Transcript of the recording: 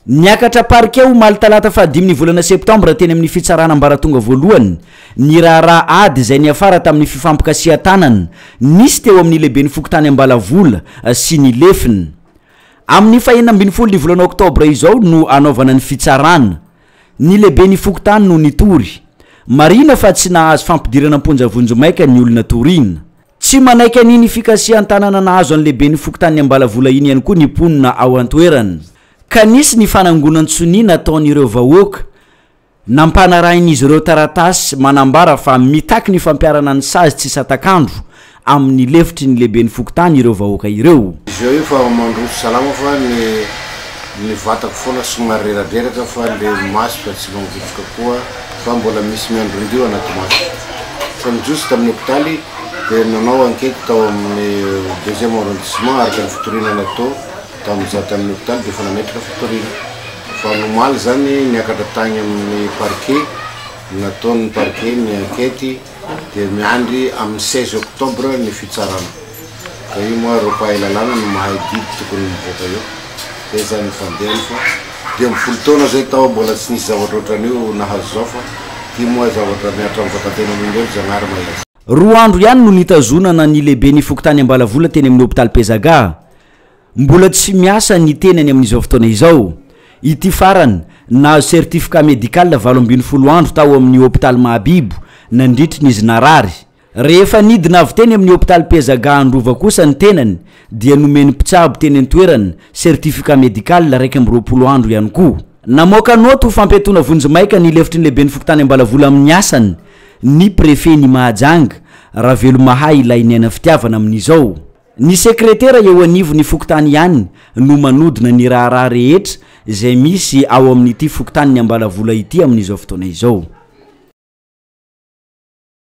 Niakatra parquet omaly talata faha dimy ny volana septambra teny amin'ny fitsarana ambaratonga voalohany ny raharaha ady izay niafara tamin'ny fifampikasihan-tanana nisy teo amin'ny lehiben'ny fokontany Ambalavola sy ny lefiny. Amin'ny fahenina ambin'ny folo ny volana oktobra izao no hanaovana ny fitsarana. Ny lehiben'ny fokontany no nitory. Marihina fa tsy nahazo fampidirana am-ponja vonjimaika ny olona toriana. Tsy manaiky an'iny fikasihan-tanana nahazo an'ny lehiben'ny fokontanin'i Ambalavola iny ihany koa ny mponina ao an-toerana, ka nisy ny fanangonan-tsonia nataon'ireo vahoaka, nampanarahin'izy ireo taratasy manambara fa mitaky ny fampiharana ny sazy tsy satak'andro amin'ny lefitry ny lehiben'ny fokontany ireo vahoaka ireo. Zao io fa mandroso salama fa ny ny vatako foana somary reradreraka fa le maso dia tsy mangotroka koa. fa mbola misy miandry indrio anaty maso. Fa ny jiosy tamin'ny hopitaly dia nanao ankety tao amin'ny deuxième arrondissement araka ny fitoriana natao tamin'ny za tamin'ny hopitaly dia efa nametraka fitoriana. Fa ny omaly izany niakatra tagny amin'ny parquet, nataon'ny parquet ny ankety. dia miandry amin'ny seize octobre ny fitsarana dia io moa ireo mpahay lalàna no mahay didy tokony mivoaka eo, zay zany ny fandehany fa dimy ambin'ny folo taona zay tao mbola tsy nisy zavatra otran'io nahazo zao fa ty moa zavatra mihatra amin'ny vataten'olombelo Zagnahary mahitsy. Roa andro ihany no nitazonana ny lehiben'ny fokontany Ambalavola teny amin'ny hopitaly Pezaga. Mbola tsy miasa ny tenany amin'izao fotoana izao. Ity farany, nahazo certificat médical valo ambin'ny folo andro tao amin'ny hopitaly Mahabibo, nandritry ny izy narary. Rehefa nidina avy teny amin'ny hopitaly Pezaga Androva kosa ny tenany, dia nomen'ny mpitsabo teny an-toerana certificat médical iraika amby roapolo andro ihany koa. Namoaka naoty ho fampiatoana vonjimaika ny lefitry ny lehiben'ny fokontany Ambalavola amin'ny asany ny prefet-n'i Mahajanga, Ravelomahay Lainiaina Fitiavana amin'izao. Ny sekretera eo anivon'ny fokontany ihany no manodina ny raharaha rehetra izay misy ao amin'ity fokontanin'ny Ambalavola ity amin'izao fotoana izao.